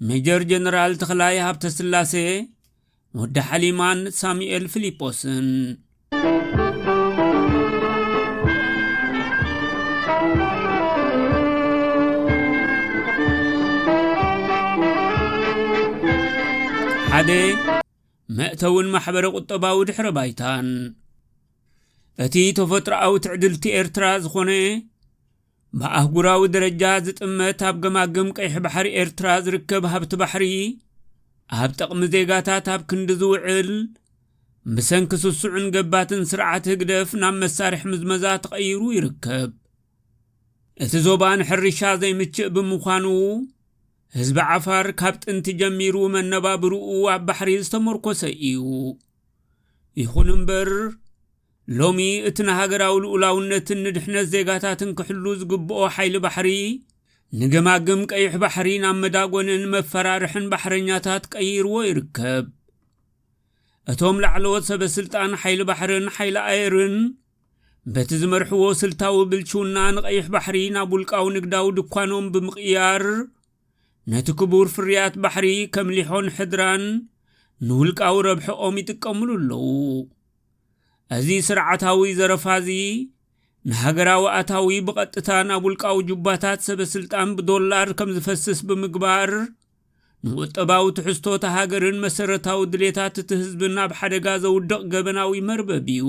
ሜጀር ጀነራል ተኽላይ ሃብተስላሴ ወዲ ሓሊማን ሳሙኤል ፊልጶስን ሓደ መእተውን ማሕበረ ቁጠባዊ ድሕረ ባይታን እቲ ተፈጥሮኣዊ ትዕድልቲ ኤርትራ ዝኾነ ብኣህጉራዊ ደረጃ ዝጥመት ኣብ ገማግም ቀይሕ ባሕሪ ኤርትራ ዝርከብ ሃብቲ ባሕሪ ኣብ ጥቕሚ ዜጋታት ኣብ ክንዲ ዝውዕል ብሰንኪ ስሱዕን ገባትን ስርዓት ህግደፍ ናብ መሳርሒ ምዝመዛ ተቐይሩ ይርከብ እቲ ዞባ ንሕርሻ ዘይምችእ ብምዃኑ ህዝቢ ዓፋር ካብ ጥንቲ ጀሚሩ መነባብርኡ ኣብ ባሕሪ ዝተመርኮሰ እዩ ይኹን እምበር ሎሚ እቲ ንሃገራዊ ልኡላውነትን ንድሕነት ዜጋታትን ክሕሉ ዝግብኦ ሓይሊ ባሕሪ ንገማግም ቀይሕ ባሕሪ ናብ መዳጎንን መፈራርሕን ባሕረኛታት ቀይርዎ ይርከብ። እቶም ላዕለዎት ሰበ ስልጣን ሓይሊ ባሕርን ሓይሊ ኣየርን በቲ ዝመርሕዎ ስልታዊ ብልሽውና ንቀይሕ ባሕሪ ናብ ውልቃዊ ንግዳዊ ድኳኖም ብምቕያር ነቲ ክቡር ፍርያት ባሕሪ ከም ሊሖን ሕድራን ንውልቃዊ ረብሐኦም ይጥቀምሉ ኣለዉ እዚ ስርዓታዊ ዘረፋ እዚ ንሃገራዊ ኣታዊ ብቐጥታ ናብ ውልቃዊ ጁባታት ሰበስልጣን ብዶላር ከም ዝፈስስ ብምግባር ንቁጠባዊ ትሕዝቶ እታ ሃገርን መሰረታዊ ድሌታት እቲ ህዝብን ኣብ ሓደጋ ዘውድቕ ገበናዊ መርበብ እዩ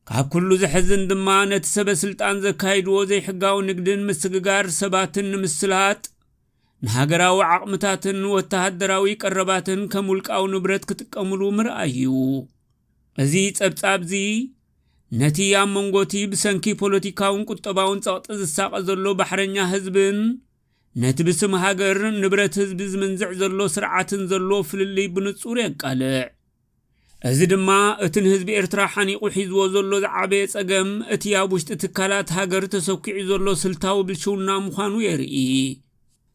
ካብ ኩሉ ዘሕዝን ድማ ነቲ ሰበስልጣን ዘካይድዎ ዘይሕጋዊ ንግድን ምስግጋር ሰባትን ንምስላጥ ንሃገራዊ ዓቕምታትን ወተሃደራዊ ቀረባትን ከም ውልቃዊ ንብረት ክጥቀምሉ ምርኣይ እዩ። እዚ ጸብጻብ'ዚ ነቲ ኣብ መንጎ'ቲ ብሰንኪ ፖለቲካውን ቁጠባውን ጸቕጢ ዝሳቐ ዘሎ ባሕረኛ ህዝብን ነቲ ብስም ሃገር ንብረት ህዝቢ ዝምንዝዕ ዘሎ ስርዓትን ዘሎ ፍልልይ ብንጹር የቃልዕ። እዚ ድማ እቲ ንህዝቢ ኤርትራ ሓኒቑ ሒዝዎ ዘሎ ዝዓበየ ጸገም፣ እቲ ኣብ ውሽጢ ትካላት ሃገር ተሰኲዑ ዘሎ ስልታዊ ብልሽውና ምዃኑ የርኢ።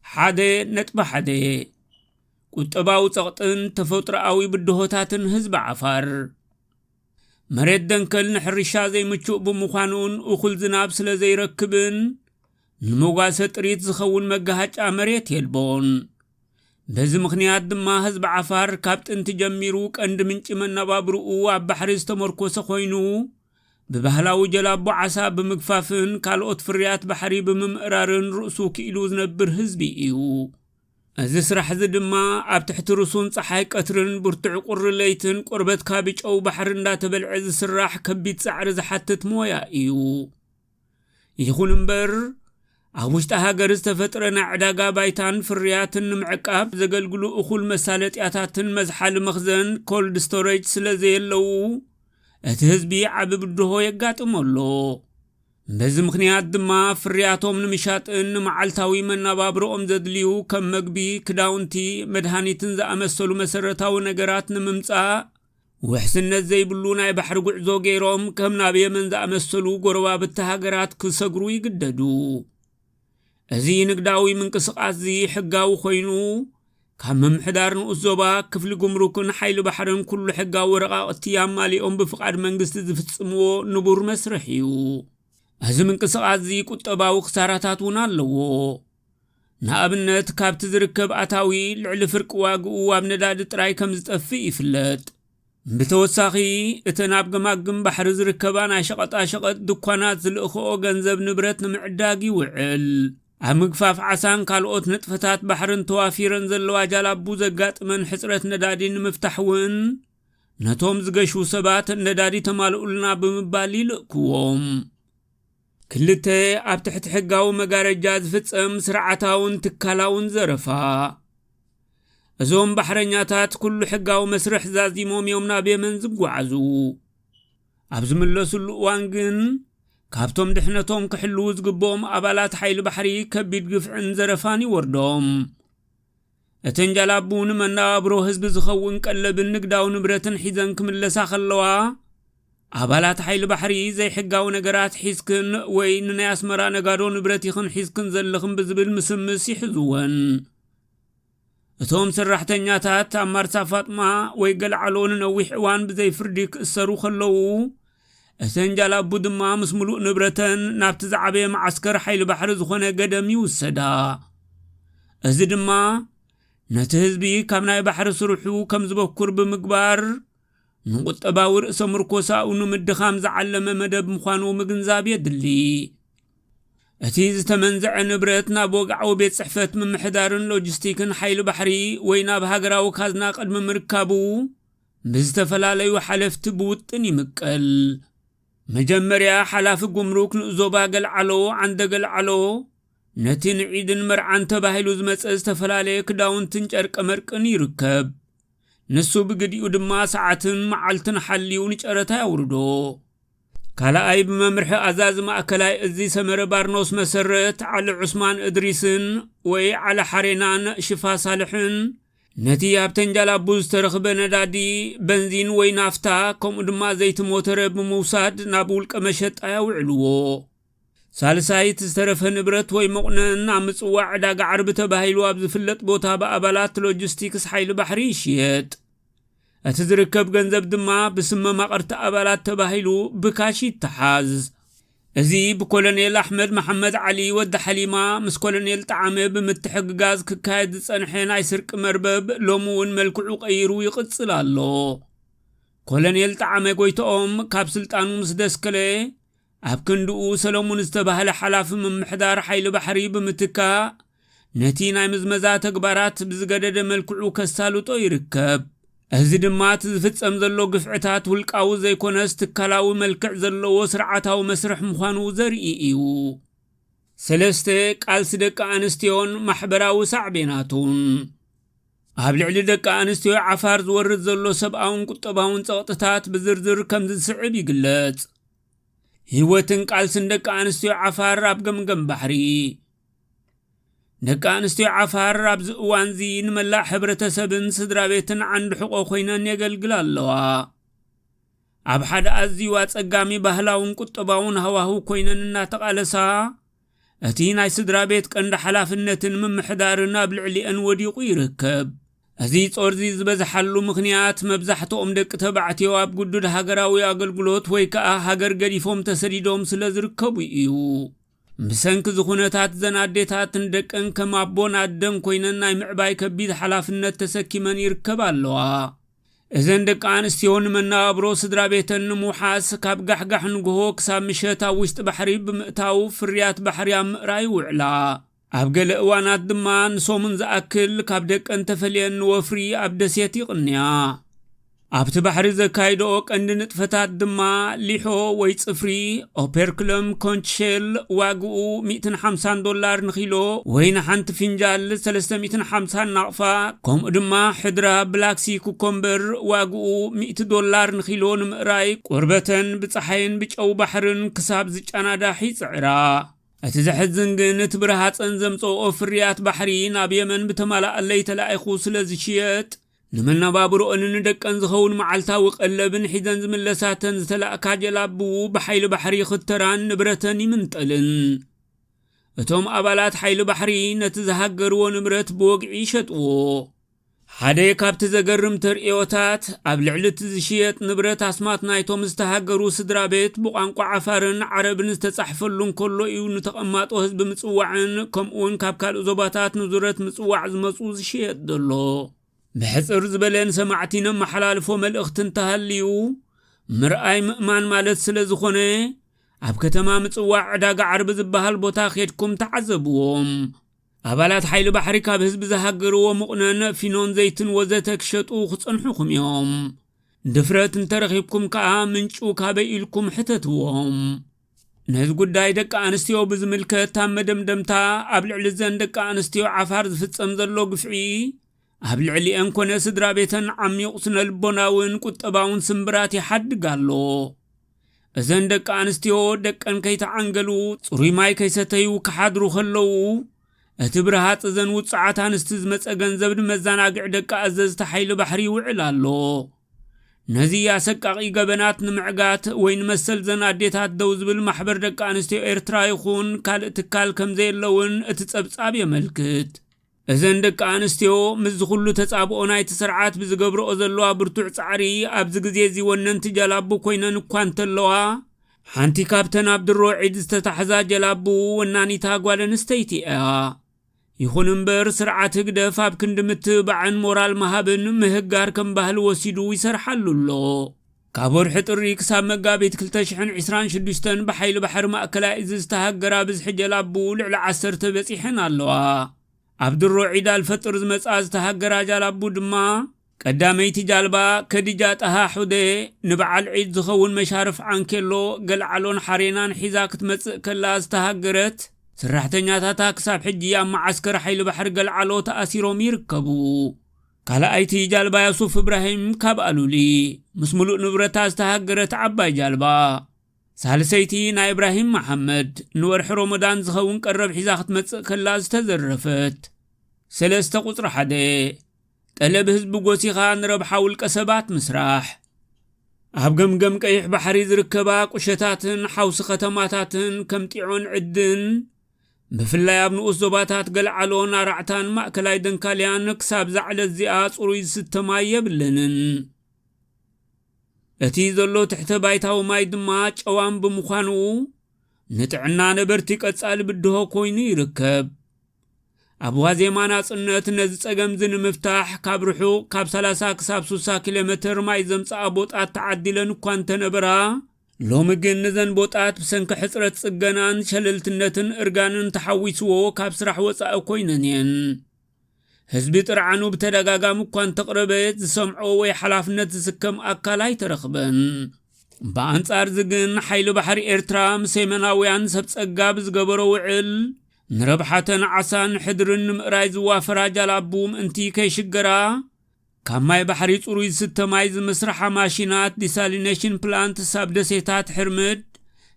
ሓደ ነጥቢ ሓደ። ቁጠባዊ ጸቕጥን ተፈጥሮኣዊ ብድሆታትን ህዝቢ ዓፋር። መሬት ደንከል ንሕርሻ ዘይምቹእ ብምዃኑን እኹል ዝናብ ስለ ዘይረክብን ንመጓሰ ጥሪት ዝኸውን መጋሃጫ መሬት የልቦን። በዚ ምኽንያት ድማ ህዝቢ ዓፋር ካብ ጥንቲ ጀሚሩ ቀንዲ ምንጪ መነባብርኡ ኣብ ባሕሪ ዝተመርኮሰ ኮይኑ ብባህላዊ ጀላቦ ዓሳ ብምግፋፍን ካልኦት ፍርያት ባሕሪ ብምምእራርን ርእሱ ክኢሉ ዝነብር ህዝቢ እዩ። እዚ ስራሕ እዚ ድማ ኣብ ትሕቲ ርሱን ፀሓይ ቀትርን ብርቱዕ ቁሪ ለይትን ቆርበትካ ብጨው ባሕሪ እንዳተበልዐ ዝስራሕ ከቢድ ፃዕሪ ዝሓትት ሞያ እዩ። ይኹን እምበር ኣብ ውሽጢ ሃገር ዝተፈጥረ ናይ ዕዳጋ ባይታን ፍርያትን ንምዕቃብ ዘገልግሉ እኹል መሳለጥያታትን መዝሓሊ መኽዘን ኮልድ ስቶሬጅ ስለ ዘየለዉ እቲ ህዝቢ ዓቢ ብድሆ የጋጥሞ ኣሎ በዚ ምኽንያት ድማ ፍርያቶም ንምሻጥን ንመዓልታዊ መናባብሮኦም ዘድልዩ ከም መግቢ ክዳውንቲ መድሃኒትን ዝኣመሰሉ መሰረታዊ ነገራት ንምምጻእ ውሕስነት ዘይብሉ ናይ ባሕሪ ጉዕዞ ገይሮም ከም ናብ የመን ዝኣመሰሉ ጎረባብቲ ሃገራት ክሰግሩ ይግደዱ እዚ ንግዳዊ ምንቅስቓስ እዚ ሕጋዊ ኮይኑ ካብ ምምሕዳር ንኡስ ዞባ ክፍሊ ጉምሩክን ሓይሊ ባሕርን ኩሉ ሕጋዊ ወረቓቕቲ ኣማሊኦም ብፍቓድ መንግስቲ ዝፍጽምዎ ንቡር መስርሕ እዩ እዚ ምንቅስቓስ እዚ ቁጠባዊ ክሳራታት እውን ኣለዎ ንኣብነት ካብቲ ዝርከብ ኣታዊ ልዕሊ ፍርቂ ዋግኡ ኣብ ነዳዲ ጥራይ ከም ዝጠፍእ ይፍለጥ ብተወሳኺ እተን ኣብ ገማግም ባሕሪ ዝርከባ ናይ ሸቐጣሸቐጥ ድኳናት ዝልእኽኦ ገንዘብ ንብረት ንምዕዳግ ይውዕል ኣብ ምግፋፍ ዓሳን ካልኦት ንጥፈታት ባሕርን ተዋፊረን ዘለዋ ጃላቡ ዘጋጥመን ሕፅረት ነዳዲ ንምፍታሕ እውን ነቶም ዝገሹ ሰባት ነዳዲ ተማልኡልና ብምባል ይልእክዎም ክልተ ኣብ ትሕቲ ሕጋዊ መጋረጃ ዝፍጸም ስርዓታውን ትካላውን ዘረፋ እዞም ባሕረኛታት ኩሉ ሕጋዊ መስርሕ ዛዚሞም እዮም ናብ የመን ዝጓዓዙ ኣብ ዝምለሱሉ እዋን ግን ካብቶም ድሕነቶም ክሕልዉ ዝግብኦም ኣባላት ሓይሊ ባሕሪ ከቢድ ግፍዕን ዘረፋን ይወርዶም እተን ጃላቡ ንመነባብሮ ህዝቢ ዝኸውን ቀለብን ንግዳዊ ንብረትን ሒዘን ክምለሳ ከለዋ፣ ኣባላት ሓይሊ ባሕሪ ዘይሕጋዊ ነገራት ሒዝክን ወይ ንናይ ኣስመራ ነጋዶ ንብረት ኢኽን ሒዝክን ዘለኽን ብዝብል ምስምስ ይሕዝወን። እቶም ሰራሕተኛታት ኣብ ማርሳ ፋጥማ ወይ ገልዓሎ ንነዊሕ እዋን ብዘይ ፍርዲ ክእሰሩ ከለዉ፣ እተን ጃላቡ ድማ ምስ ምሉእ ንብረተን ናብቲ ዝዓበየ መዓስከር ሓይሊ ባሕሪ ዝኾነ ገደም ይውሰዳ። እዚ ድማ ነቲ ህዝቢ ካብ ናይ ባሕሪ ስርሑ ከም ዝበኩር ብምግባር ንቁጠባዊ ርእሰ ምርኮሳኡ ንምድኻም ዝዓለመ መደብ ምዃኑ ምግንዛብ የድሊ እቲ ዝተመንዘዐ ንብረት ናብ ወግዓዊ ቤት ጽሕፈት ምምሕዳርን ሎጂስቲክን ሓይሊ ባሕሪ ወይ ናብ ሃገራዊ ካዝና ቅድሚ ምርካቡ ብዝተፈላለዩ ሓለፍቲ ብውጥን ይምቀል። መጀመርያ ሓላፊ ጉምሩክ ንኡስ ዞባ ገልዓሎ ዓንደ ገልዓሎ ነቲ ንዒድን መርዓን ተባሂሉ ዝመፀ ዝተፈላለየ ክዳውንትን ጨርቀ መርቅን ይርከብ። ንሱ ብግዲኡ ድማ ሰዓትን መዓልትን ሓልዩ ንጨረታ ያውርዶ። ካልኣይ ብመምርሒ ኣዛዚ ማእከላይ እዚ ሰመረ ባርኖስ መሰረት ዓሊ ዑስማን እድሪስን ወይ ዓሊ ሓሬናን ሽፋ ሳልሕን ነቲ ኣብ ተንጃላቡ ዝተረኽበ ነዳዲ፣ በንዚን ወይ ናፍታ፣ ከምኡ ድማ ዘይቲ ሞተረ ብምውሳድ ናብ ውልቀ መሸጣ ያውዕልዎ። ሳልሳይ፣ እቲ ዝተረፈ ንብረት ወይ መቑነን ኣብ ምጽዋዕ ዕዳጋ ዓርቢ ተባሂሉ ኣብ ዝፍለጥ ቦታ ብኣባላት ሎጂስቲክስ ሓይሊ ባሕሪ ይሽየጥ። እቲ ዝርከብ ገንዘብ ድማ ብስም መማቕርቲ ኣባላት ተባሂሉ ብካሽ ይተሓዝ። እዚ ብኮሎኔል ኣሕመድ መሓመድ ዓሊ ወዲ ሓሊማ ምስ ኮሎኔል ጠዓመ ብምትሕግጋዝ ክካየድ ዝጸንሐ ናይ ስርቂ መርበብ ሎሚ እውን መልክዑ ቀይሩ ይቕጽል ኣሎ። ኮሎኔል ጠዓመ ጎይትኦም ካብ ስልጣኑ ምስ ደስከለ ኣብ ክንድኡ ሰለሙን ዝተባህለ ሓላፊ ምምሕዳር ሓይሊ ባሕሪ ብምትካእ ነቲ ናይ ምዝመዛ ተግባራት ብዝገደደ መልክዑ ከሳልጦ ይርከብ። እዚ ድማ እቲ ዝፍጸም ዘሎ ግፍዕታት ውልቃዊ ዘይኮነስ ትካላዊ መልክዕ ዘለዎ ስርዓታዊ መስርሕ ምዃኑ ዘርኢ እዩ። ሰለስተ ቃልሲ ደቂ ኣንስትዮን ማሕበራዊ ሳዕቤናቱን ኣብ ልዕሊ ደቂ ኣንስትዮ ዓፋር ዝወርድ ዘሎ ሰብኣውን ቁጠባውን ጸቕጥታት ብዝርዝር ከምዚ ዝስዕብ ይግለጽ ህይወትን ቃልስን ደቂ ኣንስትዮ ዓፋር ኣብ ገምገም ባሕሪ ደቂ ኣንስትዮ ዓፋር ኣብዚ እዋንዚ ንመላእ ሕብረተሰብን ስድራ ቤትን ዓንዲ ሕቆ ኮይነን የገልግላ ኣለዋ ኣብ ሓደ ኣዝዩ ኣጸጋሚ ባህላውን ቁጠባውን ሃዋህው ኮይነን እናተቓለሳ እቲ ናይ ስድራ ቤት ቀንዲ ሓላፍነትን ምምሕዳርን ኣብ ልዕሊአን ወዲቑ ይርከብ እዚ ጾርዚ ዝበዝሓሉ ምኽንያት መብዛሕትኦም ደቂ ተባዕትዮ ኣብ ግዱድ ሃገራዊ ኣገልግሎት ወይ ከዓ ሃገር ገዲፎም ተሰዲዶም ስለ ዝርከቡ እዩ ብሰንኪ እዚ ኩነታት እዘን ኣዴታት ንደቀን ከም ኣቦን ኣደን ኮይነን ናይ ምዕባይ ከቢድ ሓላፍነት ተሰኪመን ይርከባ ኣለዋ። እዘን ደቂ ኣንስትዮ ንመነባብሮ ስድራ ቤተን ንምውሓስ ካብ ጋሕጋሕ ንግሆ ክሳብ ምሸት ኣብ ውሽጢ ባሕሪ ብምእታው ፍርያት ባሕሪ ኣብ ምእራይ ይውዕላ። ኣብ ገለ እዋናት ድማ ንሰሙን ዝኣክል ካብ ደቀን ተፈልየን ንወፍሪ ኣብ ደሴት ይቕንያ። ኣብቲ ባሕሪ ዘካይደኦ ቀንዲ ንጥፈታት ድማ ሊሖ ወይ ጽፍሪ ኦፐርክሎም ኮንች ሼል ዋግኡ 150 ዶላር ንኪሎ ወይ ንሓንቲ ፍንጃል 350 ናቕፋ ከምኡ ድማ ሕድራ ብላክሲ ኩኮምበር ዋግኡ 100 ዶላር ንኪሎ ንምእራይ ቁርበተን ብፀሓይን ብጨው ባሕርን ክሳብ ዝጨናዳሕ ይፅዕራ። እቲ ዘሕዝን ግን እቲ ብረሃፀን ዘምፀኦ ፍርያት ባሕሪ ናብ የመን ብተማላኣለይ ተላኢኹ ስለ ዝሽየጥ ንመነባብሮኦን ንደቀን ዝኸውን መዓልታዊ ቀለብን ሒዘን ዝምለሳተን ዝተላእካ ጀላቡ ብሓይሊ ባሕሪ ይኽተራን ንብረተን ይምንጠልን እቶም ኣባላት ሓይሊ ባሕሪ ነቲ ዝሃገርዎ ንብረት ብወግዒ ይሸጥዎ ሓደ ካብቲ ዘገርም ተርእዮታት ኣብ ልዕሊ እቲ ዝሽየጥ ንብረት ኣስማት ናይቶም ዝተሃገሩ ስድራ ቤት ብቋንቋ ዓፋርን ዓረብን ዝተጻሕፈሉ እንከሎ እዩ ንተቐማጦ ህዝቢ ምጽዋዕን ከምኡውን ካብ ካልእ ዞባታት ንዙረት ምጽዋዕ ዝመጹ ክሽየጥ ዘሎ ብሕጽር ዝበለ ንሰማዕቲ ነመሓላልፎ መልእኽቲ እንተሃልዩ ምርኣይ ምእማን ማለት ስለ ዝኾነ ኣብ ከተማ ምጽዋዕ ዕዳጋ ዓርቢ ዝበሃል ቦታ ኼድኩም ተዓዘብዎም ኣባላት ሓይሊ ባሕሪ ካብ ህዝቢ ዝሃገርዎ ምቑነን ፊኖን ዘይትን ወዘተ ክሸጡ ክጸንሑኹም እዮም ድፍረት እንተረኺብኩም ከኣ ምንጩ ካበይ ኢልኩም ሕተትዎም ነዚ ጉዳይ ደቂ ኣንስትዮ ብዝምልከት ኣብ መደምደምታ ኣብ ልዕሊ ዘን ደቂ ኣንስትዮ ዓፋር ዝፍጸም ዘሎ ግፍዒ ኣብ ልዕሊኤን ኮነ ስድራ ቤተን ዓሚቑ ስነ ልቦናውን ቁጠባውን ስምብራት ይሓድግ ኣሎ እዘን ደቂ ኣንስትዮ ደቀን ከይተዓንገሉ ጽሩይ ማይ ከይሰተዩ ክሓድሩ ከለዉ እቲ ብርሃፅ እዘን ውፅዓት ኣንስቲ ዝመፀ ገንዘብ ንመዘናግዒ ደቂ ኣዘዝቲ ሓይሊ ባሕሪ ይውዕል ኣሎ ነዚ ኣሰቃቒ ገበናት ንምዕጋት ወይ ንመሰልዘን ኣዴታት ደው ዝብል ማሕበር ደቂ ኣንስትዮ ኤርትራ ይኹን ካልእ ትካል ከምዘየለ እውን እቲ ጸብጻብ የመልክት። እዘን ደቂ ኣንስትዮ ምስዚ ኩሉ ተጻብኦ ናይቲ ስርዓት ብዝገብርኦ ዘለዋ ብርቱዕ ጻዕሪ ኣብዚ ግዜ እዚ ወነንቲ ጀላቡ ኮይነን እኳ እንተለዋ ሓንቲ ካብተን ኣብ ድሮ ዒድ ዝተታሕዛ ጀላቡ ወናኒታ ጓል ኣንስተይቲ እያ። ይኹን እምበር ስርዓት ህግደፍ ኣብ ክንዲ ምትብባዕን ሞራል ምሃብን ምህጋር ከም ባህሊ ወሲዱ ይሰርሓሉ ኣሎ። ካብ ወርሒ ጥሪ ክሳብ መጋቢት ክልተ ሽሕን ዕስራን ሽዱሽተን ብሓይሊ ባሕሪ ማእከላይ እዚ ዝተሃገራ ብዝሒ ጀላቡ ልዕሊ ዓሰርተ በጺሐን ኣለዋ። ኣብ ድሮ ዒድ ኣልፈጥር ዝመጽኣ ዝተሃገራ ጃላቡ ድማ፣ ቀዳመይቲ ጃልባ ከዲጃ ጣሃ ሑደ ንበዓል ዒድ ዝኸውን መሻርፍ ዓንኬሎ፣ ገልዓሎን ሓሬናን ሒዛ ክትመጽእ ከላ ዝተሃገረት፣ ስራሕተኛታታ ክሳብ ሕጂ ኣብ መዓስከር ሓይሊ ባሕሪ ገልዓሎ ተኣሲሮም ይርከቡ። ካልኣይቲ ጃልባ ያሱፍ እብራሂም ካብ ኣሉሊ ምስ ምሉእ ንብረታ ዝተሃገረት ዓባይ ጃልባ። ሳልሰይቲ ናይ እብራሂም መሓመድ ንወርሒ ሮሞዳን ዝኸውን ቀረብ ሒዛ ክትመጽእ ከላ ዝተዘረፈት ሰለስተ ቁጽሪ ሓደ፣ ጠለብ ህዝቢ ጎሲኻ ንረብሓ ውልቀ ሰባት ምስራሕ ኣብ ገምገም ቀይሕ ባሕሪ ዝርከባ ቁሸታትን ሓውሲ ከተማታትን ከም ጢዖን ዕድን ብፍላይ ኣብ ንኡስ ዞባታት ገልዓሎን ኣራዕታን ማእከላይ ደንካልያን ክሳብ ዛዕለት እዚኣ ጽሩይ ዝስተ ማይ የብለንን እቲ ዘሎ ትሕተ ባይታዊ ማይ ድማ ጨዋም ብምዃኑ ንጥዕና ነበርቲ ቀጻሊ ብድሆ ኮይኑ ይርከብ ኣብ ዋዜማ ናጽነት ነዚ ጸገምዚ ንምፍታሕ ካብ ርሑቕ ካብ 30 ክሳብ 60 ኪሎ ሜትር ማይ ዘምጽኣ ቦጣት ተዓዲለን እኳ እንተነበራ ሎሚ ግን ንዘን ቦጣት ብሰንኪ ሕጽረት ጽገናን ሸለልትነትን እርጋንን ተሓዊስዎ ካብ ስራሕ ወጻኢ ኮይነን እየን ህዝቢ ጥርዓኑ ብተደጋጋሚ እኳ እንተቕረበ ዝሰምዖ ወይ ሓላፍነት ዝስከም ኣካል ኣይተረኽበን ብኣንጻር እዚ ግን ሓይሊ ባሕሪ ኤርትራ ምስ የመናውያን ሰብ ጸጋ ብዝገበሮ ውዕል ንረብሓተን ዓሳን ሕድርን ንምእራይ ዝዋፈራ ጃላቡ ምእንቲ ከይሽገራ፣ ካብ ማይ ባሕሪ ጽሩይ ዝስተ ማይ ዝምስርሓ ማሺናት፣ ዲሳሊነሽን ፕላንትስ፣ ኣብ ደሴታት ሕርምድ፣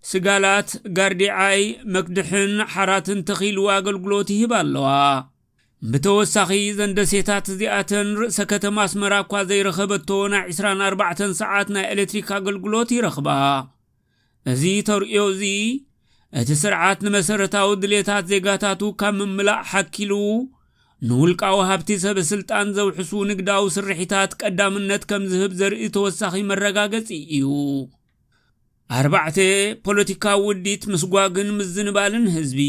ስጋላት፣ ጋርዲዓይ፣ መክድሕን ሓራትን ተኺሉ ኣገልግሎት ይህባ ኣለዋ። ብተወሳኺ እዘን ደሴታት እዚኣተን ርእሰ ከተማ ኣስመራ እኳ ዘይረኸበቶ ናይ ዕስራን ኣርባዕተን ሰዓት ናይ ኤሌክትሪክ ኣገልግሎት ይረኽባ። እዚ ተርእዮ እዚ እቲ ስርዓት ንመሰረታዊ ድሌታት ዜጋታቱ ካብ ምምላእ ሓኪሉ ንውልቃዊ ሃብቲ ሰበ ስልጣን ዘውሕሱ ንግዳዊ ስርሒታት ቀዳምነት ከም ዝህብ ዘርኢ ተወሳኺ መረጋገጺ እዩ። ኣርባዕተ ፖለቲካዊ ውዲት ምስጓግን ምዝንባልን ህዝቢ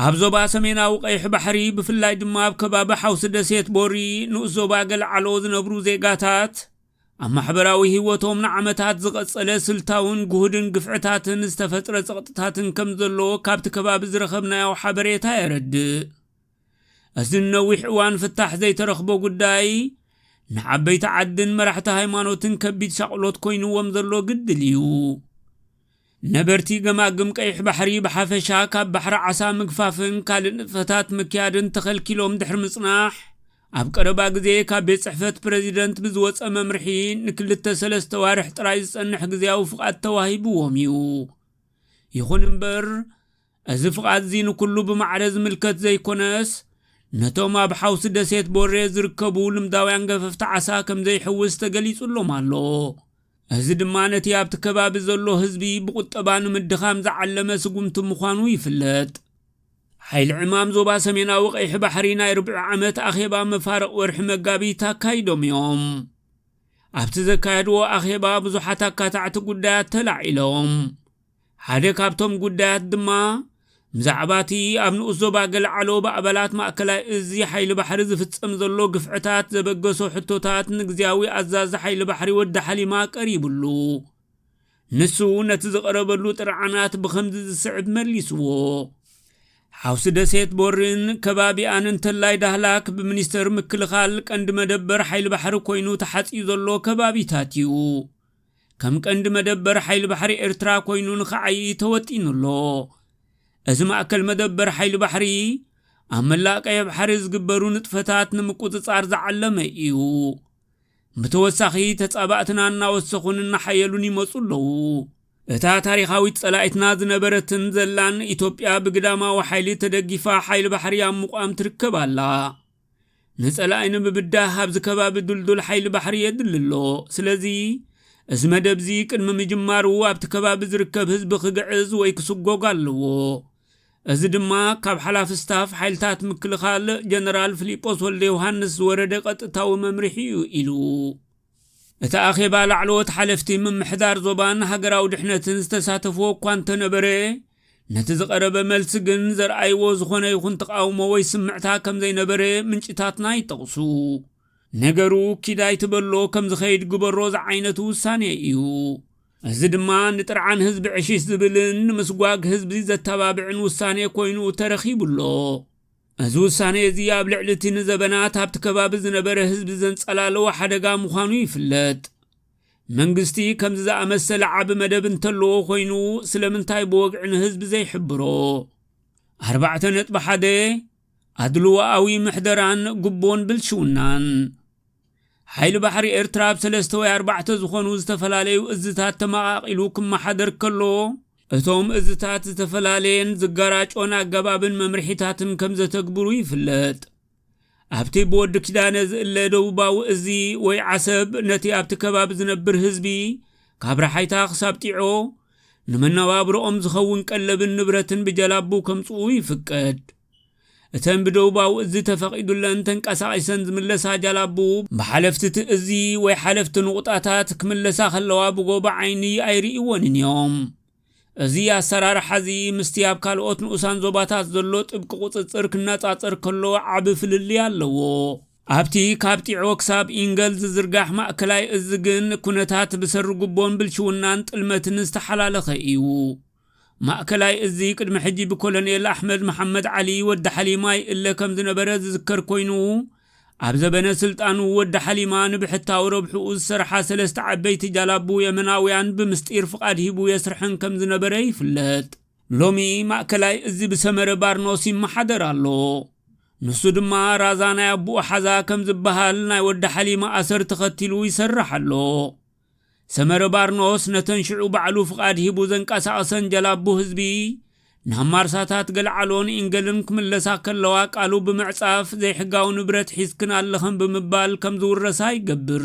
ኣብ ዞባ ሰሜናዊ ቀይሕ ባሕሪ ብፍላይ ድማ ኣብ ከባቢ ሓውሲ ደሴት ቦሪ ንኡስ ዞባ ገልዓሎ ዝነብሩ ዜጋታት ኣብ ማሕበራዊ ህይወቶም ንዓመታት ዝቐጸለ ስልታውን ግሁድን ግፍዕታትን ዝተፈጥረ ጸቕጥታትን ከም ዘሎ ካብቲ ከባቢ ዝረኸብናዮ ሓበሬታ የረድእ። እዚ ንነዊሕ እዋን ፍታሕ ዘይተረኽቦ ጉዳይ ንዓበይቲ ዓድን መራሕቲ ሃይማኖትን ከቢድ ሻቕሎት ኮይንዎም ዘሎ ግድል እዩ። ነበርቲ ገማግም ቀይሕ ባሕሪ ብሓፈሻ ካብ ባሕሪ ዓሳ ምግፋፍን ካልእ ንጥፈታት ምክያድን ተኸልኪሎም ድሕሪ ምጽናሕ ኣብ ቀረባ ግዜ ካብ ቤት ጽሕፈት ፕረዚደንት ብዝወፀ መምርሒ ንክልተ ሰለስተ ዋርሕ ጥራይ ዝጸንሕ ግዜያዊ ፍቓድ ተዋሂብዎም እዩ። ይኹን እምበር እዚ ፍቓድ'ዚ ንኩሉ ብማዕረ ዝምልከት ዘይኮነስ፣ ነቶም ኣብ ሓውሲ ደሴት ቦሬ ዝርከቡ ልምዳውያን ገፈፍቲ ዓሳ ከምዘይሕውስ ተገሊጹሎም ኣሎ። እዚ ድማ ነቲ ኣብቲ ከባቢ ዘሎ ህዝቢ ብቑጠባ ንምድኻም ዝዓለመ ስጉምቲ ምዃኑ ይፍለጥ። ሓይሊ ዕማም ዞባ ሰሜናዊ ቀይሒ ባሕሪ ናይ ርብዒ ዓመት ኣኼባ መፋርቕ ወርሒ መጋቢት ኣካይዶም እዮም። ኣብቲ ዘካየድዎ ኣኼባ ብዙሓት ኣካታዕቲ ጉዳያት ተላዒሎም። ሓደ ካብቶም ጉዳያት ድማ ብዛዕባ እቲ ኣብ ንኡስ ዞባ ገልዓሎ ብኣባላት ማእከላይ እዚ ሓይሊ ባሕሪ ዝፍጸም ዘሎ ግፍዕታት ዘበገሶ ሕቶታት ንግዝያዊ ኣዛዚ ሓይሊ ባሕሪ ወዲ ሓሊማ ቀሪብሉ። ንሱ ነቲ ዝቐረበሉ ጥርዓናት ብኸምዚ ዝስዕብ መሊስዎ። ሓውሲ ደሴት ቦርን ከባቢኣን እንተላይ ዳህላክ ብሚኒስተር ምክልኻል ቀንዲ መደበር ሓይሊ ባሕሪ ኮይኑ ተሓጽዩ ዘሎ ከባቢታት እዩ። ከም ቀንዲ መደበር ሓይሊ ባሕሪ ኤርትራ ኮይኑ ንኽዓይይ ተወጢኑ ኣሎ። እዚ ማእከል መደበር ሓይሊ ባሕሪ፣ ኣብ መላእ ቀይሕ ባሕሪ ዝግበሩ ንጥፈታት ንምቁጽጻር ዝዓለመ እዩ። ብተወሳኺ፣ ተጻባእትና እናወሰኹን እናሓየሉን ይመጹ ኣለዉ። እታ ታሪኻዊት ጸላኢትና ዝነበረትን ዘላን ኢትዮጵያ ብግዳማዊ ሓይሊ ተደጊፋ ሓይሊ ባሕሪ ኣብ ምቛም ትርከብ ኣላ። ንጸላኢ ንምብዳህ ኣብዚ ከባቢ ድልዱል ሓይሊ ባሕሪ የድሊ ኣሎ። ስለዚ እዚ መደብ እዚ ቅድሚ ምጅማሩ ኣብቲ ከባቢ ዝርከብ ህዝቢ ክግዕዝ ወይ ክስጎግ ኣለዎ። እዚ ድማ ካብ ሓላፊ ስታፍ ሓይልታት ምክልኻል ጀነራል ፍሊጶስ ወልደ ዮሃንስ ዝወረደ ቀጥታዊ መምርሒ እዩ ኢሉ። እቲ ኣኼባ ላዕለዎት ሓለፍቲ ምምሕዳር ዞባን ሃገራዊ ድሕነትን ዝተሳተፍዎ እኳ እንተነበረ ነቲ ዝቐረበ መልሲ ግን ዘርኣይዎ ዝኾነ ይኹን ተቓውሞ ወይ ስምዕታ ከም ዘይነበረ ምንጭታትና ይጠቕሱ። ነገሩ ኪድ ኣይትበሎ ከም ዝኸይድ ግበሮ ዝዓይነቱ ውሳኔ እዩ። እዚ ድማ ንጥርዓን ህዝቢ ዕሽሽ ዝብልን ንምስጓግ ህዝቢ ዘተባብዕን ውሳኔ ኮይኑ ተረኺቡ ኣሎ። እዚ ውሳኔ እዚ ኣብ ልዕሊ እቲ ንዘበናት ኣብቲ ከባቢ ዝነበረ ህዝቢ ዘንጸላለወ ሓደጋ ምዃኑ ይፍለጥ። መንግስቲ ከምዚ ዝኣመሰለ ዓቢ መደብ እንተለዎ ኮይኑ ስለምንታይ ብወግዒ ንህዝቢ ዘይሕብሮ? ኣርባዕተ ነጥቢ ሓደ ኣድልዎኣዊ ምሕደራን ጉቦን ብልሽውናን ሓይሊ ባሕሪ ኤርትራ ኣብ ሰለስተ ወይ ኣርባዕተ ዝኾኑ ዝተፈላለዩ እዝታት ተመቓቒሉ ክመሓደር ከሎ እቶም እዝታት ዝተፈላለየን ዝጋራጮን ኣገባብን መምርሒታትን ከም ዘተግብሩ ይፍለጥ። ኣብቲ ብወዲ ኪዳነ ዝእለ ደቡባዊ እዚ ወይ ዓሰብ ነቲ ኣብቲ ከባቢ ዝነብር ህዝቢ ካብ ረሓይታ ክሳብ ጢዖ ንመነባብሮኦም ዝኸውን ቀለብን ንብረትን ብጀላቡ ከምጽኡ ይፍቀድ። እተን ብደቡባዊ እዚ ተፈቒዱለን ተንቀሳቒሰን ዝምለሳ ጃላቡ ብሓለፍቲ እቲ እዚ ወይ ሓለፍቲ ንቑጣታት ክምለሳ ከለዋ ብጎቦ ዓይኒ ኣይርእይወንን እዮም። እዚ ኣሰራርሓ'ዚ ምስቲ ኣብ ካልኦት ንኡሳን ዞባታት ዘሎ ጥብቂ ቁጽጽር ክነጻጸር ከሎ ዓቢ ፍልልይ ኣለዎ። ኣብቲ ካብ ጢዖ ክሳብ ኢንገል ዝዝርጋሕ ማእከላይ እዝ ግን ኩነታት ብሰሪ ጉቦን ብልሽውናን ጥልመትን ዝተሓላለኸ ኢዩ። ማእከላይ እዝ ቅድሚ ሕጂ ብኮሎኔል ኣሕመድ መሓመድ ዓሊ፣ ወዲ ሓሊማይ፣ እለ ከምዝነበረ ዝዝከር ኮይኑ፣ ኣብ ዘበነ ስልጣኑ ወዲ ሓሊማ ንብሕታዊ ረብሕኡ ዝሰርሓ ሰለስተ ዓበይቲ ጃላቡ የመናውያን ብምስጢር ፍቓድ ሂቡ የስርሐን ከም ዝነበረ ይፍለጥ። ሎሚ ማእከላይ እዚ ብሰመረ ባርኖስ ይመሓደር ኣሎ። ንሱ ድማ ራዛ ናይ ኣቡኡ ሓዛ ከም ዝበሃል ናይ ወዲ ሓሊማ ኣሰር ተኸቲሉ ይሰርሕ ኣሎ። ሰመረ ባርኖስ ነተን ሽዑ ባዕሉ ፍቓድ ሂቡ ዘንቀሳቐሰን ጀላቡ ህዝቢ ናብ ማርሳታት ገልዓሎን ኢንገልን ክምለሳ ከለዋ ቃሉ ብምዕጻፍ ዘይሕጋዊ ንብረት ሒዝክን ኣለኽን ብምባል ከም ዝውረሳ ይገብር።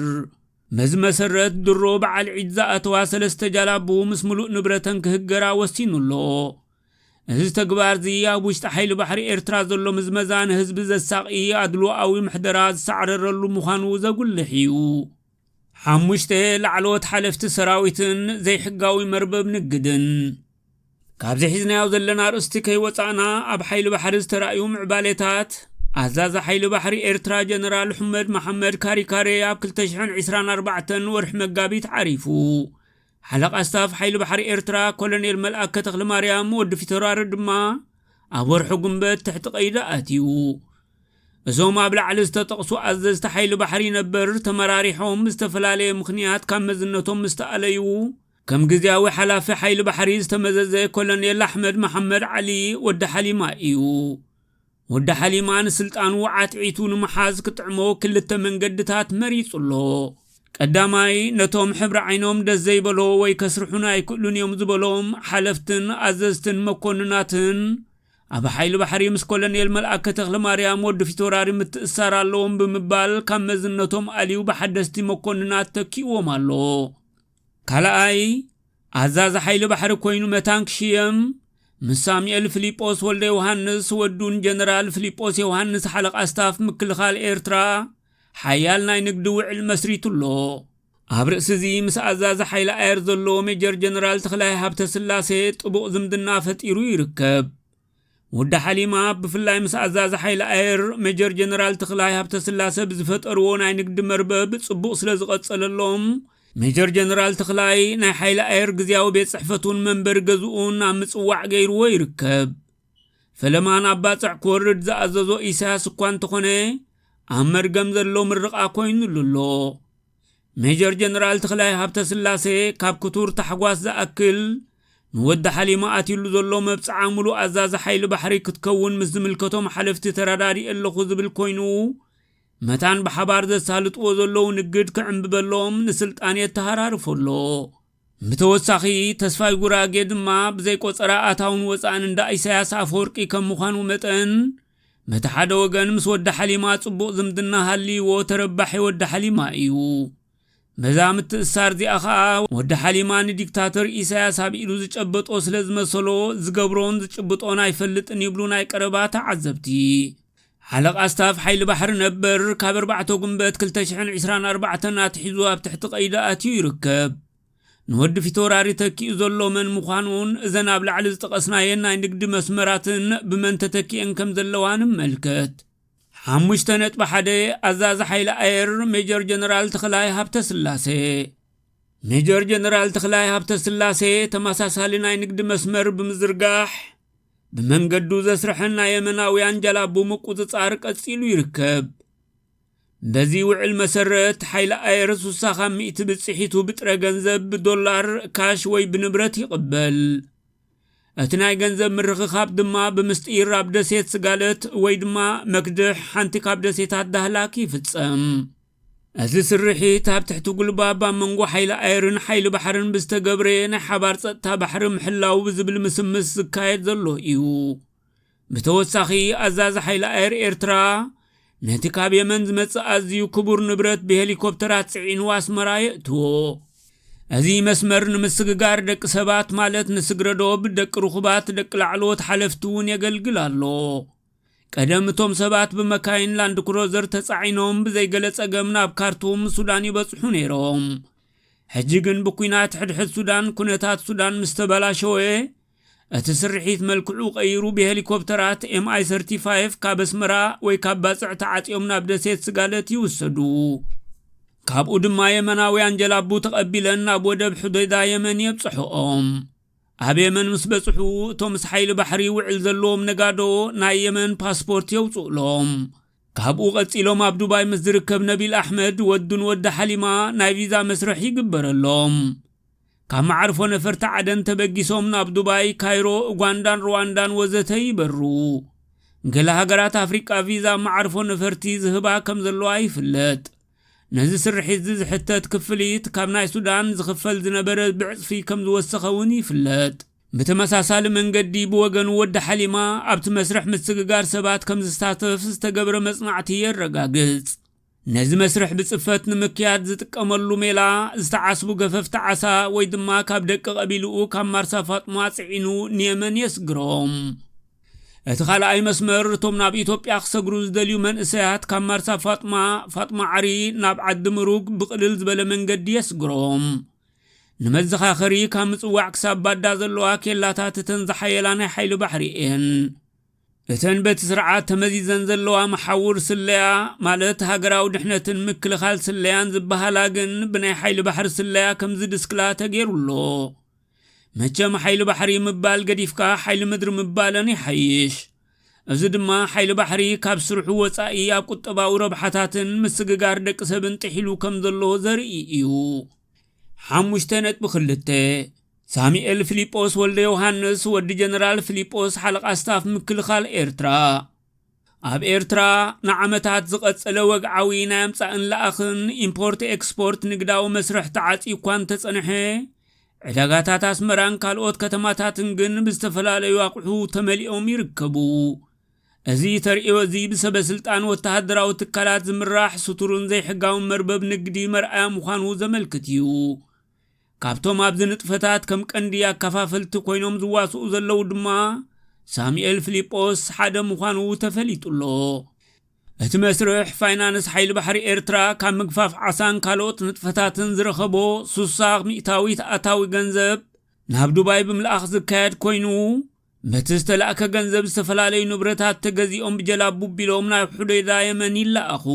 መዚ መሰረት ድሮ በዓል ዒድ ዝኣተዋ ሰለስተ ጃላቡ ምስ ምሉእ ንብረተን ክህገራ ወሲኑ ኣሎ። እዚ ተግባርዚ ኣብ ውሽጢ ሓይሊ ባሕሪ ኤርትራ ዘሎ ምዝመዛ ንህዝቢ ዘሳቒ ኣድሎኣዊ ምሕደራ ዝሳዕረረሉ ምዃኑ ዘጉልሕ እዩ። ሓሙሽተ ላዕለዎት ሓለፍቲ ሰራዊትን ዘይሕጋዊ መርበብ ንግድን ካብዚ ሒዝናዮ ዘለና ኣርእስቲ ከይወፃእና ኣብ ሓይሊ ባሕሪ ዝተራእዩ ምዕባሌታት ኣዛዚ ሓይሊ ባሕሪ ኤርትራ ጀነራል ሑመድ መሓመድ ካሪካሬ ኣብ 224 ወርሒ መጋቢት ዓሪፉ ሓለቓ ስታፍ ሓይሊ ባሕሪ ኤርትራ ኮሎኔል መልኣከ ተኽለማርያም፣ ወዲ ፊተውራሪ፣ ድማ ኣብ ወርሒ ጉንበት ትሕቲ ቀይዲ ኣትዩ። እዞም ኣብ ላዕሊ ዝተጠቕሱ ኣዘዝቲ ሓይሊ ባሕሪ ነበር ተመራሪሖም ብዝተፈላለየ ምኽንያት ካብ መዝነቶም ምስ ተኣለዩ፣ ከም ግዝያዊ ሓላፊ ሓይሊ ባሕሪ ዝተመዘዘ ኮሎኔል ኣሕመድ መሓመድ ዓሊ፣ ወዲ ሓሊማ፣ እዩ። ወዲ ሓሊማ ንስልጣኑ ዓትዒቱ ንምሓዝ ክጥዕሞ ክልተ መንገድታት መሪጹ ኣሎ። ቀዳማይ፣ ነቶም ሕብሪ ዓይኖም ደስ ዘይበሎ ወይ ከስርሑና ኣይክእሉን እዮም ዝበሎም ሓለፍትን ኣዘዝትን መኮንናትን ኣብ ሓይሊ ባሕሪ ምስ ኮሎኔል መልኣከ ተኽለማርያም ወዲ ፊቶራሪ ምትእሳር ኣለዎም ብምባል ካብ መዝነቶም ኣልዩ ብሓደስቲ መኮንናት ተኪእዎም ኣሎ። ካልኣይ ኣዛዚ ሓይሊ ባሕሪ ኮይኑ መታን ክሽየም ምስ ሳሙኤል ፍሊጶስ ወልደ ዮሃንስ ወዱን ጀነራል ፍሊጶስ ዮሃንስ ሓለቓ ስታፍ ምክልኻል ኤርትራ ሓያል ናይ ንግዲ ውዕል መስሪቱ ኣሎ ኣብ ርእሲ እዚ ምስ ኣዛዚ ሓይሊ ኣየር ዘሎ ሜጀር ጀነራል ተኽላይ ሃብተ ስላሴ ጥቡቕ ዝምድና ፈጢሩ ይርከብ ወዲ ሓሊማ ብፍላይ ምስ ኣዛዚ ሓይሊ ኣየር ሜጀር ጀነራል ተኽላይ ሃብተስላሰ ብዝፈጠርዎ ናይ ንግዲ መርበብ ጽቡቕ ስለ ዝቐጸለሎም ሜጀር ጀነራል ተኽላይ ናይ ሓይሊ ኣየር ግዜያዊ ቤት ጽሕፈቱን መንበሪ ገዝኡን ኣብ ምጽዋዕ ገይርዎ ይርከብ ፈለማ ናብ ባጽዕ ክወርድ ዝኣዘዞ ኢሳያስ እኳ እንተኾነ ኣብ መርገም ዘሎ ምርቓ ኮይኑሉ ኣሎ ሜጀር ጀነራል ተኽላይ ሃብተ ስላሴ ካብ ክቱር ታሕጓስ ዝኣክል ንወዲ ሓሊማ ኣትዩሉ ዘሎ መብጽዓ ሙሉእ ኣዛዚ ሓይሊ ባሕሪ ክትከውን ምስ ዝምልከቶም ሓለፍቲ ተረዳዲእ ኣለኹ ዝብል ኮይኑ መታን ብሓባር ዘሳልጥዎ ዘለዉ ንግድ ክዕምብበሎም ንስልጣን የተሃራርፎ ኣሎ ብተወሳኺ ተስፋይ ጉራጌ ድማ ብዘይ ቆፀራ ኣታውን ወፃእን እንዳ ኢሳያስ ኣፈወርቂ ከም ምዃኑ መጠን በቲ ሓደ ወገን ምስ ወዲ ሓሊማ ጽቡቕ ዝምድና ሃልይዎ ተረባሒ ወዲ ሓሊማ እዩ። በዛ ምትእስሳር እዚኣ ከኣ ወዲ ሓሊማ ንዲክታተር ኢሳያስ ኣብ ኢዱ ዝጨበጦ ስለ ዝመሰሎ ዝገብሮን ዝጭብጦን ኣይፈልጥን ይብሉ ናይ ቀረባ ተዓዘብቲ። ሓለቓ ስታፍ ሓይሊ ባሕሪ ነበር ካብ ኣርባዕተ ጉንበት ክልተ ሽሕን ዕስራን ኣርባዕተን ኣትሒዙ ኣብ ትሕቲ ቀይዲ ኣትዩ ይርከብ። ንወዲ ፊተውራሪ ተኪኡ ዘሎ መን ምዃኑን እዘን ኣብ ላዕሊ ዝጠቐስናየን ናይ ንግዲ መስመራትን ብመን ተተኪኤን ከም ዘለዋ ንመልከት። ሓሙሽተ ነጥቢ ሓደ ኣዛዚ ሓይሊ ኣየር ሜጀር ጀነራል ተኽላይ ሃብተስላሴ ሜጀር ጀነራል ተኽላይ ሃብተስላሴ ተመሳሳሊ ናይ ንግዲ መስመር ብምዝርጋሕ ብመንገዱ ዘስርሐን ናይ የመናውያን ጃላቡ ምቁፅፃር ቀፂሉ ይርከብ። በዚ ውዕል መሰረት ሓይሊ ኣየር ስሳ ካብ ሚእቲ ብፅሒቱ ብጥረ ገንዘብ ብዶላር ካሽ ወይ ብንብረት ይቕበል እቲ ናይ ገንዘብ ምርኽኻብ ድማ ብምስጢር ኣብ ደሴት ስጋለት ወይ ድማ መክድሕ ሓንቲ ካብ ደሴታት ዳህላክ ይፍፀም እዚ ስርሒት ኣብ ትሕቲ ጉልባብ ኣብ መንጎ ሓይሊ ኣየርን ሓይሊ ባሕርን ብዝተገብረ ናይ ሓባር ፀጥታ ባሕሪ ምሕላው ብዝብል ምስምስ ዝካየድ ዘሎ እዩ ብተወሳኺ ኣዛዚ ሓይሊ ኣየር ኤርትራ ነቲ ካብ የመን ዝመጽእ ኣዝዩ ክቡር ንብረት ብሄሊኮፕተራት ጽዒኑ ኣስመራ የእትዎ እዚ መስመር ንምስግጋር ደቂ ሰባት ማለት ንስግረዶብ ደቂ ርኹባት ደቂ ላዕለዎት ሓለፍቲ እውን የገልግል ኣሎ ቀደም እቶም ሰባት ብመካይን ላንድ ክሮዘር ተጻዒኖም ብዘይገለ ጸገም ናብ ካርቱም ሱዳን ይበጽሑ ነይሮም ሕጂ ግን ብኲናት ሕድሕድ ሱዳን ኩነታት ሱዳን ምስ ተበላሸወ እቲ ስርሒት መልክዑ ቀይሩ ብሄሊኮፕተራት ኤም ኣይ ሰርቲ ፋይፍ ካብ ኣስመራ ወይ ካብ ባጽዕ ተዓጽዮም ናብ ደሴት ስጋለት ይውሰዱ። ካብኡ ድማ የመናውያን ጀላቡ ተቐቢለን ናብ ወደብ ሑደይዳ የመን የብጽሕኦም። ኣብ የመን ምስ በጽሑ እቶም ምስ ሓይሊ ባሕሪ ውዕል ዘለዎም ነጋዶ ናይ የመን ፓስፖርት የውጽኡሎም። ካብኡ ቀጺሎም ኣብ ዱባይ ምስ ዝርከብ ነቢል ኣሕመድ ወዱን ወዲ ሓሊማ ናይ ቪዛ መስርሕ ይግበረሎም። ካብ መዓርፎ ነፈርቲ ዓደን ተበጊሶም ናብ ዱባይ፣ ካይሮ፣ ኡጋንዳን ሩዋንዳን ወዘተ ይበርሩ። ገለ ሃገራት ኣፍሪቃ ቪዛ ኣብ መዓርፎ ነፈርቲ ዝህባ ከም ዘለዋ ይፍለጥ። ነዚ ስርሒትዚ ዝሕተት ክፍሊት ካብ ናይ ሱዳን ዝኽፈል ዝነበረ ብዕጽፊ ከም ዝወሰኸ እውን ይፍለጥ። ብተመሳሳሊ መንገዲ ብወገን ወዲ ሓሊማ ኣብቲ መስርሕ ምስግጋር ሰባት ከም ዝሳተፍ ዝተገብረ መጽናዕቲ የረጋግጽ። ነዚ መስርሕ ብጽፈት ንምክያድ ዝጥቀመሉ ሜላ ዝተዓስቡ ገፈፍቲ ዓሳ ወይ ድማ ካብ ደቂ ቀቢልኡ ካብ ማርሳ ፋጥማ ጽዒኑ ንየመን የስግሮም። እቲ ካልኣይ መስመር እቶም ናብ ኢትዮጵያ ክሰግሩ ዝደልዩ መንእሰያት ካብ ማርሳ ፋጥማ ፋጥማ ዓሪ ናብ ዓዲ ምሩግ ብቕልል ዝበለ መንገዲ የስግሮም። ንመዘኻኸሪ ካብ ምጽዋዕ ክሳብ ባዳ ዘለዋ ኬላታት እተን ዝሓየላ ናይ ሓይሊ ባሕሪ እየን። እተን በቲ ስርዓት ተመዚዘን ዘለዋ መሓውር ስለያ ማለት ሃገራዊ ድሕነትን ምክልኻል ስለያን ዝበሃላ ግን ብናይ ሓይሊ ባሕሪ ስለያ ከም ዝድስክላ ተገይሩ ኣሎ። መቸም ሓይሊ ባሕሪ ምባል ገዲፍካ ሓይሊ ምድሪ ምባለን ይሓይሽ። እዚ ድማ ሓይሊ ባሕሪ ካብ ስርሑ ወጻኢ ኣብ ቁጠባዊ ረብሓታትን ምስግጋር ደቂ ሰብን ጥሒሉ ከም ዘሎ ዘርኢ እዩ። ሓሙሽተ ነጥቢ ክልተ ሳሙኤል ፊሊጶስ ወልደ ዮሃንስ ወዲ ጀነራል ፊሊጶስ ሓለቓ ስታፍ ምክልኻል ኤርትራ ኣብ ኤርትራ ንዓመታት ዝቐጸለ ወግዓዊ ናይ ኣምጻእን ለኣኽን ኢምፖርት ኤክስፖርት ንግዳዊ መስርሕ ተዓጽዩ እኳ እንተጸንሐ ዕዳጋታት ኣስመራን ካልኦት ከተማታትን ግን ብዝተፈላለዩ ኣቑሑ ተመሊኦም ይርከቡ እዚ ተርእዮ እዚ ብሰበስልጣን ወተሃደራዊ ትካላት ዝምራሕ ስቱርን ዘይሕጋውን መርበብ ንግዲ መርኣያ ምዃኑ ዘመልክት እዩ። ካብቶም ኣብዚ ንጥፈታት ከም ቀንዲ ኣከፋፈልቲ ኮይኖም ዝዋስኡ ዘለዉ ድማ ሳሙኤል ፍሊጶስ ሓደ ምዃኑ ተፈሊጡ ኣሎ። እቲ መስርሕ ፋይናንስ ሓይሊ ባሕሪ ኤርትራ ካብ ምግፋፍ ዓሳን ካልኦት ንጥፈታትን ዝረኸቦ ሱሳ ሚእታዊት ኣታዊ ገንዘብ ናብ ዱባይ ብምልኣኽ ዝካየድ ኮይኑ በቲ ዝተላእከ ገንዘብ ዝተፈላለዩ ንብረታት ተገዚኦም ብጀላቡ ቢሎም ናብ ሑደይዳ የመን ይለኣኹ።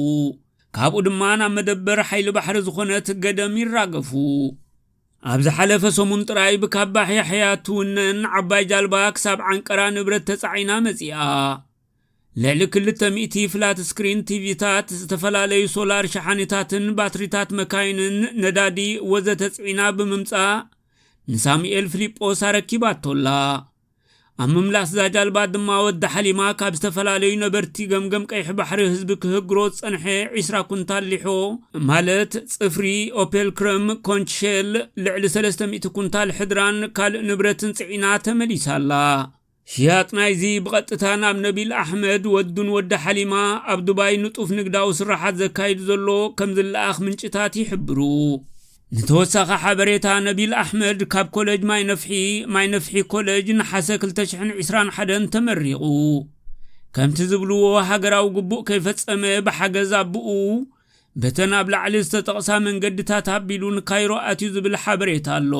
ካብኡ ድማ ናብ መደበር ሓይሊ ባሕሪ ዝኾነት ገደም ይራገፉ። ኣብ ዝሓለፈ ሰሙን ጥራይ ብካባሕ ያሕያ ትውነን ዓባይ ጃልባ ክሳብ ዓንቀራ ንብረት ተጻዒና መጺኣ። ልዕሊ ክልተ ሚእቲ ፍላት ስክሪን ቲቪታት ዝተፈላለዩ ሶላር ሸሓኒታትን ባትሪታት መካይንን ነዳዲ ወዘተ ጽዒና ብምምጻእ ንሳሙኤል ፍሊጶስ ኣረኪባቶ ኣላ። ኣብ ምምላስ እዛ ጃልባ ድማ ወዲ ሓሊማ ካብ ዝተፈላለዩ ነበርቲ ገምገም ቀይሕ ባሕሪ ህዝቢ ክህግሮ ዝጸንሐ ዒስራ ኩንታል ሊሖ ማለት ጽፍሪ፣ ኦፔል ክረም፣ ኮንች ሼል፣ ልዕሊ ሰለስተ ሚእቲ ኩንታል ሕድራን ካልእ ንብረትን ጽዒና ተመሊሳ ኣላ። ሽያጥ ናይዚ ብቐጥታ ናብ ነቢል ኣሕመድ፣ ወዱን ወዲ ሓሊማ ኣብ ዱባይ ንጡፍ ንግዳዊ ስርሓት ዘካይዱ ዘሎ ከምዝለኣኽ ምንጭታት ይሕብሩ። ንተወሳኺ ሓበሬታ ነቢል ኣሕመድ ካብ ኮለጅ ማይ ነፍሒ፣ ማይ ነፍሒ ኮለጅ፣ ነሓሰ ክልተ ሽሕን ዒስራን ሓደን ተመሪቑ። ከምቲ ዝብልዎ ሃገራዊ ግቡእ ከይፈጸመ ብሓገዝ ኣቡኡ በተን ኣብ ላዕሊ ዝተጠቕሳ መንገድታት ኣቢሉ ንካይሮ ኣትዩ ዝብል ሓበሬታ ኣሎ።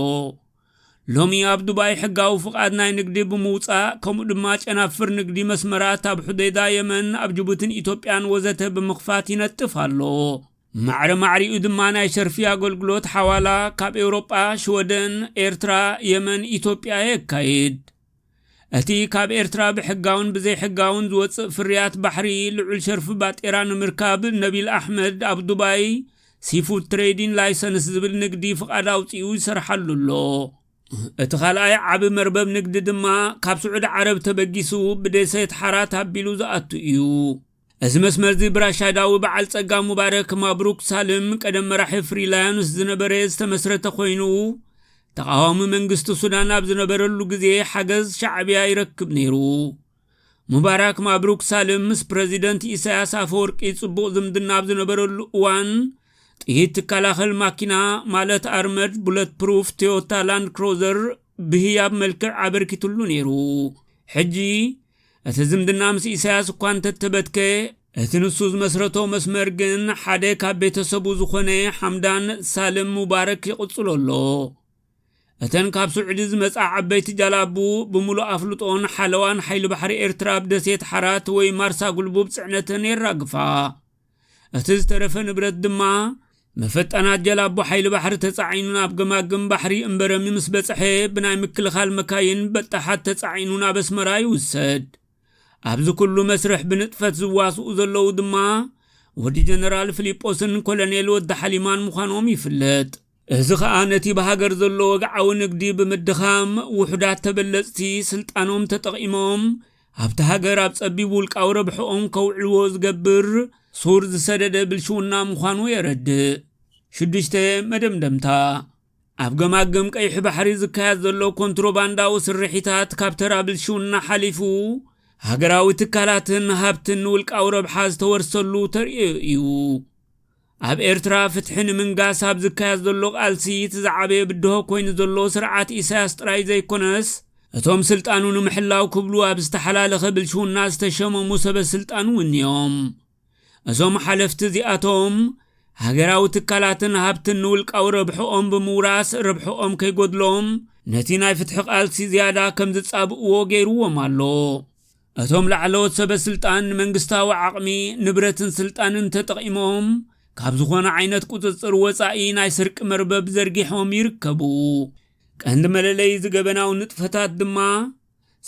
ሎሚ ኣብ ዱባይ ሕጋዊ ፍቓድ ናይ ንግዲ ብምውፃእ ከምኡ ድማ ጨናፍር ንግዲ መስመራት ኣብ ሑዴዳ የመን ኣብ ጅቡትን ኢትዮጵያን ወዘተ ብምኽፋት ይነጥፍ ኣሎ። ማዕረ ማዕሪኡ ድማ ናይ ሸርፊ ኣገልግሎት ሓዋላ ካብ ኤውሮጳ፣ ሽወደን፣ ኤርትራ፣ የመን፣ ኢትዮጵያ የካይድ። እቲ ካብ ኤርትራ ብሕጋውን ብዘይሕጋውን ዝወጽእ ፍርያት ባሕሪ ልዑል ሸርፊ ባጤራ ንምርካብ ነቢል ኣሕመድ ኣብ ዱባይ ሲፉድ ትሬዲን ላይሰንስ ዝብል ንግዲ ፍቓድ ኣውፂኡ ይሰርሓሉ ኣሎ። እቲ ካልኣይ ዓቢ መርበብ ንግዲ ድማ ካብ ስዑዲ ዓረብ ተበጊሱ ብደሴት ሓራት ኣቢሉ ዝኣቱ እዩ። እዚ መስመርዚ ብራሻዳዊ በዓል ጸጋ ሙባረክ ማብሩክ ሳልም ቀደም መራሒ ፍሪ ላዮንስ ዝነበረ ዝተመስረተ ኮይኑ ተቓዋሚ መንግስቲ ሱዳን ኣብ ዝነበረሉ ግዜ ሓገዝ ሻዕብያ ይረክብ ነይሩ። ሙባራክ ማብሩክ ሳልም ምስ ፕረዚደንት ኢሳያስ ኣፈወርቂ ጽቡቕ ዝምድና ኣብ ዝነበረሉ እዋን ጥይት ትከላኸል ማኪና ማለት ኣርመድ ቡለት ፕሩፍ ቶዮታ ላንድ ክሮዘር ብህያብ መልክዕ ኣበርኪትሉ ነይሩ። ሕጂ እቲ ዝምድና ምስ ኢሳያስ እኳ እንተተበትከ፣ እቲ ንሱ ዝመስረቶ መስመር ግን ሓደ ካብ ቤተሰቡ ዝኾነ ሓምዳን ሳልም ሙባረክ ይቕጽሎ ኣሎ። እተን ካብ ስዑዲ ዝመጻ ዓበይቲ ጃላቡ ብምሉእ ኣፍልጦን ሓለዋን ሓይሊ ባሕሪ ኤርትራ ኣብ ደሴት ሓራት ወይ ማርሳ ጉልቡብ ጽዕነተን የራግፋ። እቲ ዝተረፈ ንብረት ድማ መፈጣናት ጀላቦ ሓይሊ ባሕሪ ተጻዒኑ ናብ ገማግም ባሕሪ እምበረሚ ምስ በጽሐ ብናይ ምክልኻል መካይን በጣሓት ተጻዒኑ ናብ ኣስመራ ይውሰድ ኣብዚ ኩሉ መስርሕ ብንጥፈት ዝዋስኡ ዘለዉ ድማ ወዲ ጀነራል ፊሊጶስን ኮሎኔል ወዲ ሓሊማን ምዃኖም ይፍለጥ እዚ ኸኣ ነቲ ብሃገር ዘሎ ወግዓዊ ንግዲ ብምድኻም ውሑዳት ተበለጽቲ ስልጣኖም ተጠቒሞም ኣብቲ ሃገር ኣብ ጸቢብ ውልቃዊ ረብሕኦም ከውዕልዎ ዝገብር ሱር ዝሰደደ ብልሽውና ምዃኑ የረድእ። ሽዱሽተ፣ መደምደምታ ኣብ ገማግም ቀይሕ ባሕሪ ዝካየድ ዘሎ ኮንትሮባንዳዊ ስርሒታት ካብ ተራ ብልሽውና ሓሊፉ ሃገራዊ ትካላትን ሃብትን ንውልቃዊ ረብሓ ዝተወርሰሉ ተርእዮ እዩ። ኣብ ኤርትራ ፍትሒ ንምንጋስ ኣብ ዝካየድ ዘሎ ቃልሲ እቲ ዝዓበየ ብድሆ ኮይኑ ዘሎ ስርዓት ኢሳያስ ጥራይ ዘይኮነስ እቶም ስልጣኑ ንምሕላው ክብሉ ኣብ ዝተሓላለኸ ብልሽውና ዝተሸመሙ ሰበ ስልጣን እውን እዮም። እዞም ሓለፍቲ እዚኣቶም ሃገራዊ ትካላትን ሃብትን ንውልቃዊ ረብሕኦም ብምውራስ ረብሕኦም ከይጎድሎም ነቲ ናይ ፍትሒ ቃልሲ ዝያዳ ከም ዝጻብእዎ ገይርዎም ኣሎ። እቶም ላዕለዎት ሰበ ስልጣን መንግስታዊ ዓቕሚ፣ ንብረትን ስልጣንን ተጠቒሞም ካብ ዝኾነ ዓይነት ቁፅፅር ወፃኢ ናይ ስርቂ መርበብ ዘርጊሖም ይርከቡ። ቀንዲ መለለዪ እዚ ገበናዊ ንጥፈታት ድማ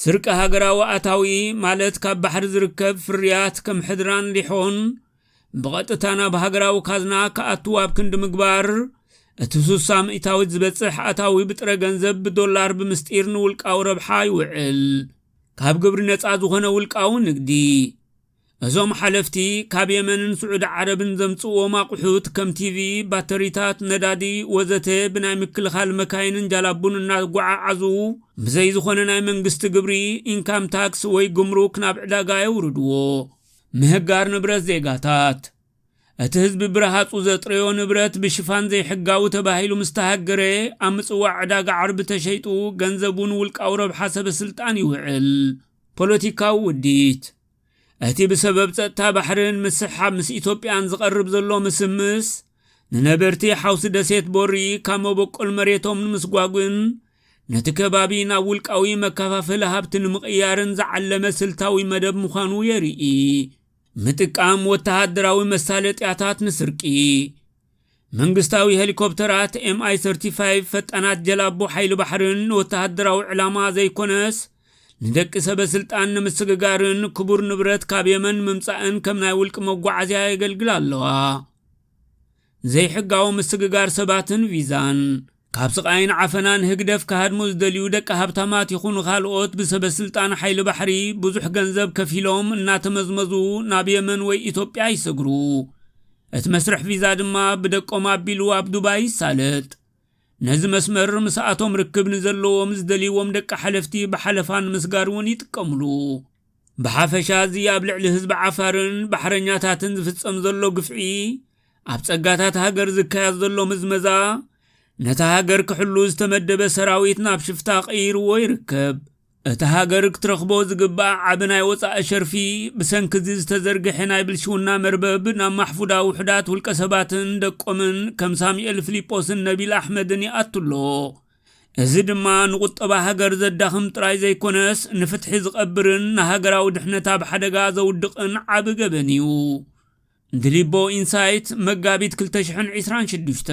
ስርቂ ሃገራዊ ኣታዊ ማለት ካብ ባሕሪ ዝርከብ ፍርያት ከም ሕድራን ሊሖን ብቐጥታ ናብ ሃገራዊ ካዝና ክኣትው ኣብ ክንዲ ምግባር እቲ ሱሳ ሚእታዊት ዝበፅሕ ኣታዊ ብጥረ ገንዘብ ብዶላር ብምስጢር ንውልቃዊ ረብሓ ይውዕል። ካብ ግብሪ ነፃ ዝኾነ ውልቃዊ ንግዲ እዞም ሓለፍቲ ካብ የመንን ስዑዲ ዓረብን ዘምፅዎም ኣቑሑት ከም ቲቪ፣ ባተሪታት፣ ነዳዲ ወዘተ ብናይ ምክልኻል መካይንን ጃላቡን እናጓዓዓዙ ብዘይ ዝኾነ ናይ መንግስቲ ግብሪ ኢንካም ታክስ ወይ ጉምሩክ ናብ ዕዳጋ የውርድዎ። ምህጋር ንብረት ዜጋታት እቲ ህዝቢ ብረሃጹ ዘጥረዮ ንብረት ብሽፋን ዘይሕጋዊ ተባሂሉ ምስ ተሃገረ፣ ኣብ ምጽዋዕ ዕዳጋ ዓርቢ ተሸይጡ ገንዘቡ ንውልቃዊ ረብሓ ሰበስልጣን ይውዕል። ፖለቲካዊ ውዲት፣ እቲ ብሰበብ ጸጥታ ባሕርን ምስሕሓብ ምስ ኢትዮጵያን ዝቐርብ ዘሎ ምስምስ፣ ንነበርቲ ሓውሲ ደሴት ቦሪ ካብ መበቆል መሬቶም ንምስጓጕን ነቲ ከባቢ ናብ ውልቃዊ መከፋፈሊ ሃብቲ ንምቕያርን ዝዓለመ ስልታዊ መደብ ምዃኑ የርኢ። ምጥቃም ወተሃደራዊ መሳለጥያታት ንስርቂ መንግስታዊ ሄሊኮፕተራት ኤምኣይ 35 ፈጣናት ጀላቦ ሓይሊ ባሕርን ንወተሃደራዊ ዕላማ ዘይኮነስ ንደቂ ሰበ ስልጣን ንምስግጋርን ክቡር ንብረት ካብ የመን ምምፃእን ከም ናይ ውልቂ መጓዓዝያ የገልግላ ኣለዋ። ዘይሕጋዊ ምስግጋር ሰባትን ቪዛን፣ ካብ ስቓይን ዓፈናን ህግደፍ ክሃድሙ ዝደልዩ ደቂ ሃብታማት ይኹኑ ካልኦት ብሰበስልጣን ሓይሊ ባሕሪ ብዙሕ ገንዘብ ከፊሎም እናተመዝመዙ ናብ የመን ወይ ኢትዮጵያ ይሰግሩ። እቲ መስርሕ ቪዛ ድማ ብደቆም ኣቢሉ ኣብ ዱባይ ይሳለጥ። ነዚ መስመር ምስኣቶም ርክብ ንዘለዎም ዝደልይዎም ደቂ ሓለፍቲ ብሓለፋ ንምስጋር እውን ይጥቀምሉ። ብሓፈሻ እዚ ኣብ ልዕሊ ህዝቢ ዓፋርን ባሕረኛታትን ዝፍጸም ዘሎ ግፍዒ ኣብ ጸጋታት ሃገር ዝካየድ ዘሎ ምዝመዛ ነታ ሃገር ክሕሉ ዝተመደበ ሰራዊት ናብ ሽፍታ ቀይርዎ ይርከብ እታ ሃገር ክትረኽቦ ዝግባእ ዓቢ ናይ ወጻኢ ሸርፊ ብሰንኪ እዚ ዝተዘርግሐ ናይ ብልሽውና መርበብ ናብ ማሕፉዳ ውሑዳት ውልቀ ሰባትን ደቆምን ከም ሳሙኤል ፊሊጶስን ነቢል ኣሕመድን ይኣቱ ኣሎ እዚ ድማ ንቁጠባ ሃገር ዘዳኽም ጥራይ ዘይኮነስ ንፍትሒ ዝቐብርን ንሃገራዊ ድሕነት ኣብ ሓደጋ ዘውድቕን ዓቢ ገበን እዩ። ድሊቦ ኢንሳይት መጋቢት 2026